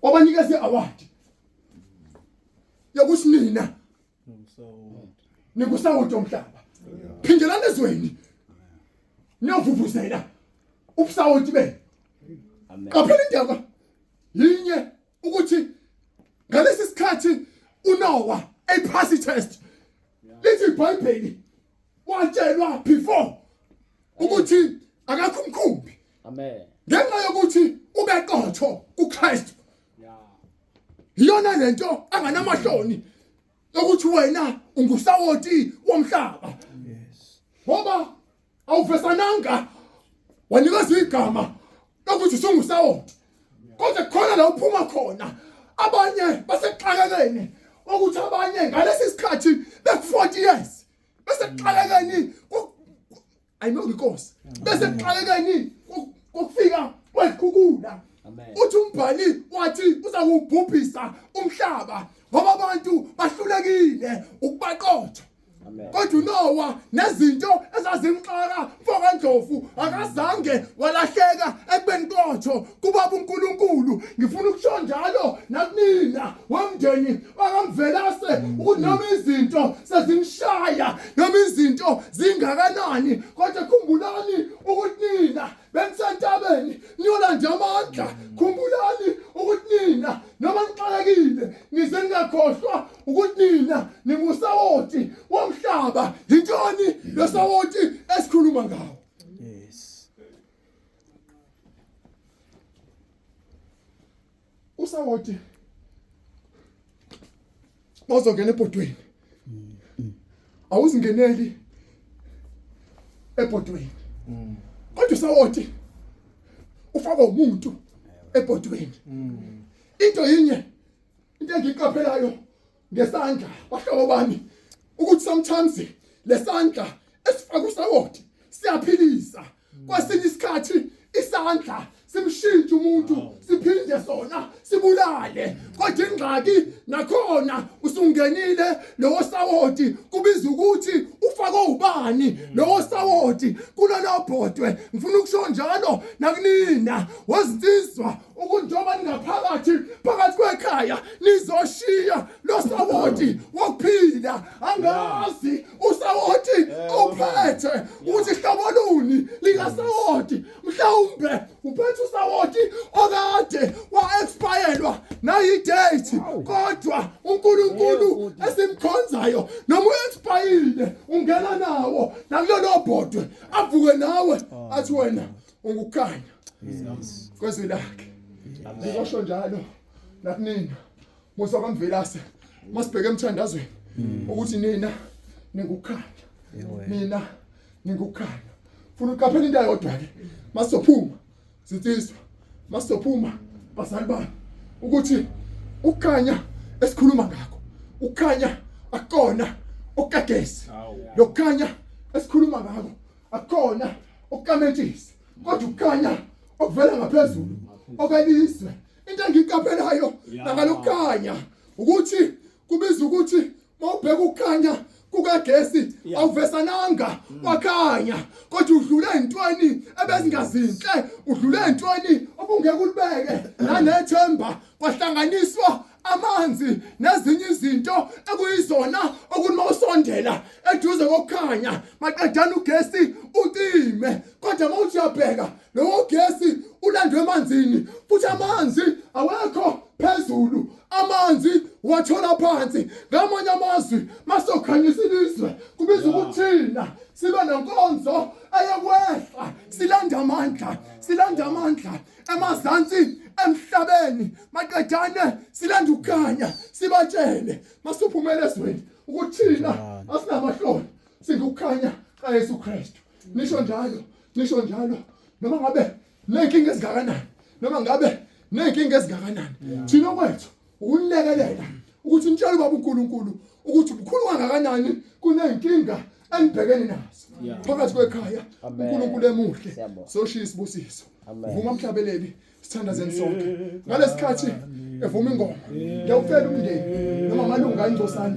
wabanikeza i-award yokuthi nina nikusawoti omhlaba phindelani ezweni niyovuvuzela ubusawoti benu qaphela indaba yinye ukuthi ngalesi sikhathi uNowa ephasi test lithi iBhayibheli watshelwa before ukuthi akakho umkhumbi amen ngenxa yokuthi ubeqotho kuKristu iyona lento anganamahloni ukuthi wena ungusawoti womhlaba ngoba awuvesananga wanikezwa igama lokuthi sungusawoti kodwa khona la uphuma khona abanye basexakekeni ukuthi abanye ngalesi sikhathi beku-40 years besexakekeni ayinonga inkosi besexakekeni kokufika kwezikhukhula uthi umbhali wathi uzakubhubhisa umhlaba ngoba abantu bahlulekile ukubaqotha kodwa unowa nezinto ezazimxaka mfokandlovu akazange walahleka ekubeni kotho kubaba unkulunkulu ngifuna ukusho njalo nakunina womndeni wakamvelase ukuthi noma izinto sezimshaya noma izinto zingakanani kodwa khumbulani ukuthi nina benisentabeni niyolanda amandla khumbulani ukuthi nina noma nixakekile nize ningakhohlwa ukuthi nina ningusawoti womhlaba yintoni losawoti esikhuluma ngawo yes usawoti bazongena ebhodweni awuzingeneli ebhodweni mm. kodwa usawoti ufaka umuntu ebhodweni mm. into yinye into engiyiqaphelayo ngesandla bahlobo bami ukuthi sometimes lesandla esifaka usawoti siyaphilisa kwesinye isikhathi isandla simshintshe umuntu siphinde sona sibulale kodwa ingxaki nakhona usungenile lowo sawoti kubiza ukuthi ufake ubani lowo sawoti kulelo bhodwe ngifuna ukusho njalo nakunina wezinsizwa ukunjengoba ningaphakathi phakathi kwekhaya nizoshiya losawoti wokuphila angazi usawoti ophethe ukuthi hlobo luni likasawoti mhlawumbe uphethe usawoti okade wa-expayelwa nayi-date kodwa unkulunkulu esimkhonzayo noma u-expayile ungena nawo nakulolo bhodwe avuke nawe athi wena ungukukhanya kwezwi lakhe ngikosho njalo nakunina musa kwamvelase masibheke emthandazweni hmm. ukuthi nina ningukukhanya nina ningukukhanya funa uqaphela into ayodwa ke masophuma zitsizwa masophuma bazali bami ukuthi ukukhanya esikhuluma ngakho ukukhanya akona okagesi lokukhanya esikhuluma ngakho akukhona ukukametshisa kodwa ukukhanya okuvela ngaphezulu okwelizwe into engiyiqaphelayo nakalokukhanya ukuthi kubiza ukuthi mawubheka ukukhanya kukagesi awuvesananga mm. wakhanya kodwa udlule entweni ebezingazinhle udlule entweni obungeke ulibeke nanethemba kwahlanganiswa amanzi nezinye izinto ekuyizona okunoma usondela eduze kokukhanya maqedana ugesi ucime kodwa uma uthi uyabheka lowo gesi ulandwe emanzini futhi amanzi awekho phezulu amanzi wathola phansi ngamanye amazwi masokhanyisa ilizwe kubiza ukuthina sibe nenkonzo eyokwehla silanda amandla silanda amandla emazantsi emhlabeni maqedane silanda ukukhanya sibatshele masuphumela ezweni ukuthi thina asinamahloni singukukhanya kaYesu Kristu nisho njalo nisho njalo noma ngabe nenkinga ezingakanani noma ngabe nenkinga ezingakanani thina kwethu ukulekelela ukuthi nitshele ubaba uNkulunkulu ukuthi ubukhulu kangakanani kunenkinga enibhekene nazo phakathi kwekhaya uNkulunkulu emuhle soshiya isibusiso vuma mhlabeleli sithandazeni sonke ngalesikhathi evuma ingoma ngiyawucela umndeni noma amalunga engcosana